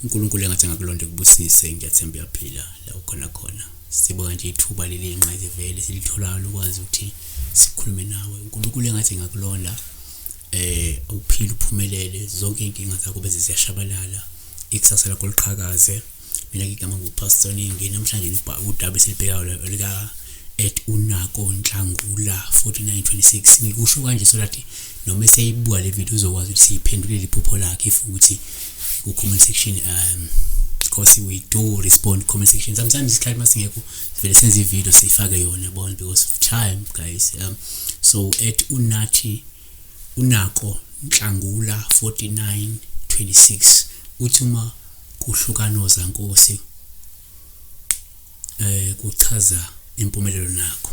uNkulunkulu engathi angakulonda kubusise ngiyathemba uyaphila la ukhona khona sibonga nje ithuba leli nqayizivele silitholayo lokwazi ukuthi sikhulume nawe uNkulunkulu engathi ngakulonda eh uphile uphumelele zonke inkinga zakho beze ziyashabalala ikusasa lakho liqhakaze mina ngigama ngupastor ningi namhlanje udaba esilibhekayo olika at unako nhlangula 4926 ngikusho kanje so that noma eseyibuka le video uzokwazi ukuthi siyiphendulele iphupho lakhe if ukuthi ku comment section um because we do respond comment section sometimes isikhathi masingekho sivele senze ivideo siyifake yona bona because of time guys um so at unathi uNako Nhlangula, 4926, uthi uma kuhlukana ozankosi eh kuchaza impumelelo nakho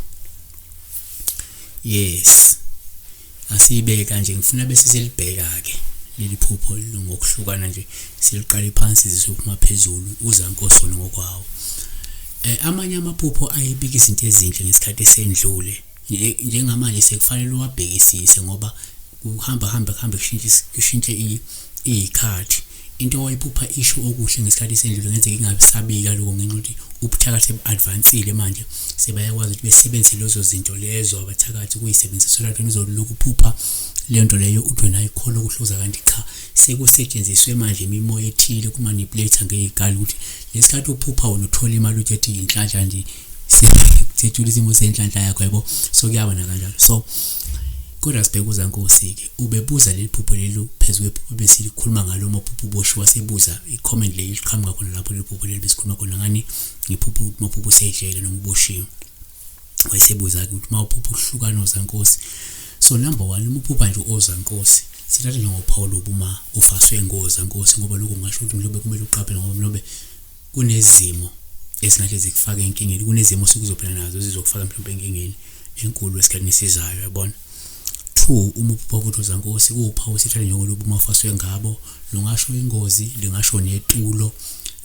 yes asiyibeke kanje ngifuna bese silibheka ke leli phupho ngokuhlukana nje siliqale phansi zisuphuma phezulu uzankosi wona ngokwawo eh amanye amaphupho ayibika izinto ezinhle ngesikhathi sendlule njengamanje sekufanele uwabhekisise ngoba kuhamba hamba kuhambe kushintshe iy'khathi into owayiphupha isho okuhle ngesikhathi sendlule ngenzeka ingabe sabika lokho ngenxa ukuthi ubuthakathi sebu-advansile manje sebayakwazi ukuthi besebenzise lezo zinto lezo abathakathi ukuyisebenzisa so lathona uzolokhu uphupha leyo nto leyo uthi wena ayikholwa ukuhluza kanti cha sekusetshenziswe manje imimoya ethile kumanipulate ngey'kali ukuthi lesikhathi uphupha wona uthola imali uthi ethi yinhlanhla nje sithula isimo senhlanhla yakho yabo so kuyabona kanjalo so kodwa sibheke uzankosi-ke ubebuza leli phupho leli phezu kwephupho besilikhuluma ngalo maphupho uboshiwa sebuza i-comment leli liqhamuka khona lapho leli phupho leli besikhuluma khona ngani ngiphupho ukuthi maphupho usejele noma uboshiwe wayesebuza-ke ukuthi uma uphupha uhlukana ozankosi so number one uma uphupha nje ozankosi sithathe njengophawu lobu uma ufaswe ngoza nkosi ngoba lokhu ngasho ukuthi mhlawumbe kumele uqaphele ngoba mhlawumbe kunezimo esingathi zikufaka enkingeni kunezimo osuke uzophila nazo ezizokufaka mhlawumbe enkingeni enkulu esikhathini esizayo yabona two uma uphupha ukuthi uzankosi kuwuphawu sithanda njengoluba uma ufaswe ngabo lungasho ingozi lingasho netulo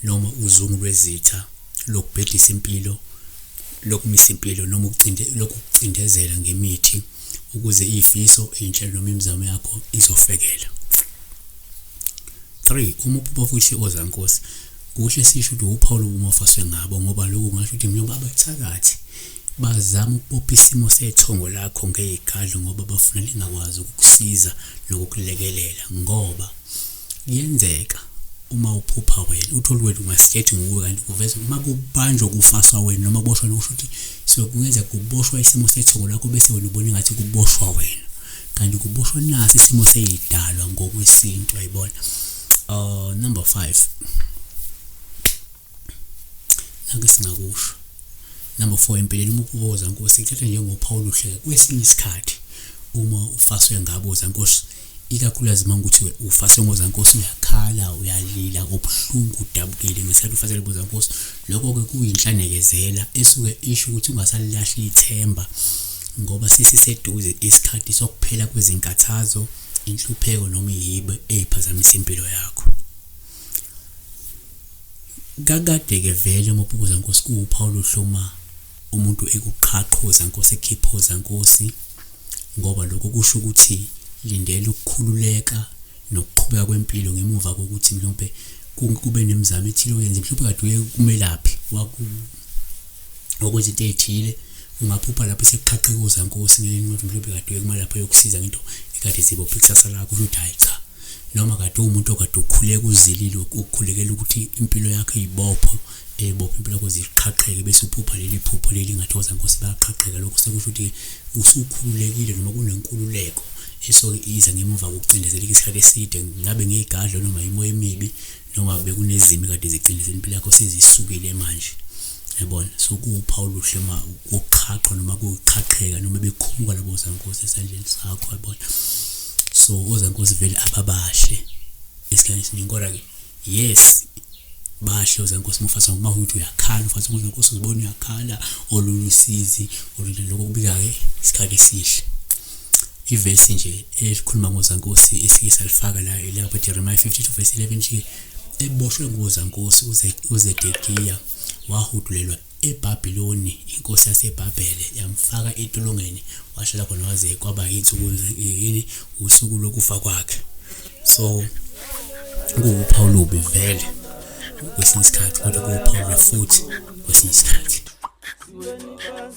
noma uzungu lwezitha lokubhedisa impilo lokumisa impilo noma lokucindezela ngemithi ukuze iyifiso inhlelo noma imizamo yakho izofekela 3 uma uPopofu isiko zankosi kuhle sisho ukuthi uphawu lobumofaswe ngabo ngoba lokhu ngasho ukuthi njengoba abathakathi bazama ukubopha isimo sethongo lakho ngeyigadlo ngoba bafuna lingakwazi ukukusiza nokukulekelela ngoba kuyenzeka uma uphupha wena uthole wena ungasikhethi nguwe kanti kuveza uma kubanjwa kufaswa wena noma kuboshwa lokusho ukuthi so kungenzeka kuboshwa isimo sethongo lakho bese wena ubona ngathi kuboshwa wena kanti kuboshwa nasi isimo seyidalwa ngokwesintu ayibona uh number 5 nake singakusho number 4 empeleni uma ubuza nkosi ithatha njengophawu luhle kwesinye isikhathi uma ufaswe ngabuza nkosi ikakhulukazi uma ngikuthiwe ufase ngozankosi uyakhala uyalila obuhlungu udabukile ngesikhathi ufasele bozankosi lokho-ke kuyinhlanekezela esuke isho ukuthi ungasalilahli ithemba ngoba sesiseduze isikhathi sokuphela kwezinkathazo, inhlupheko noma iyibe eziphazamisa impilo yakho. Kakade-ke vele Mopukuza Nkosi kuwuphawu luhloma umuntu ekuqhaqhoza Nkosi ekhiphoza Nkosi ngoba lokho kusho ukuthi lindela ukukhululeka nokuqhubeka kwempilo ngemuva kokuthi mhlawumbe kube nemizamo ethile oyenze mhlawumbe kade uye kumelaphi waku okwezinto ezithile ungaphupha lapho sekuqhaqhekuza nkosi ngelinye ukuthi mhlawumbe kade uyekuma lapho yokusiza ngento ekade zibopha ikusasa lakho ukuthi hayi cha noma kade umuntu okade ukhuleka uzilile ukukhulekela ukuthi impilo yakhe ibopho ebopha impilo yakho ziqhaqheke bese uphupha leli phupho leli ngathokoza nkosi bayaqhaqheka lokho sekusho ukuthi usukhululekile noma kunenkululeko esoke iza ngemuva kokucindezeleka isikhathi eside ngabe ngeyigadlo noma yimoya emibi noma bekunezimo kade zicindezela impilo yakho sezisukile manje yabona so kuwuphawu luhle uma uqhaqho noma kuqhaqheka noma bekhumuka labo zankosi esandleni sakho yabona so ozankosi vele ababahle esikhathini esiningi kodwa-ke yes bahle ozankosi mufasa ngoba ukuthi uyakhala ufasa ukuthi nkosi uzibona uyakhala olulusizi olulokho kubika-ke isikhathi esihle ivesi nje elikhuluma ngozankosi esike salifaka la elakwa Jeremiah 52 verse 11 nje eboshwe ngozankosi uZedekiya wahudulelwa eBabiloni inkosi yaseBhabhele yamfaka etolongweni washala khona waze kwaba insuku yini usuku lokufa kwakhe so kuwuphawu lubi vele kwesinye isikhathi kodwa kuwuphawu lwefuthi kwesinye isikhathi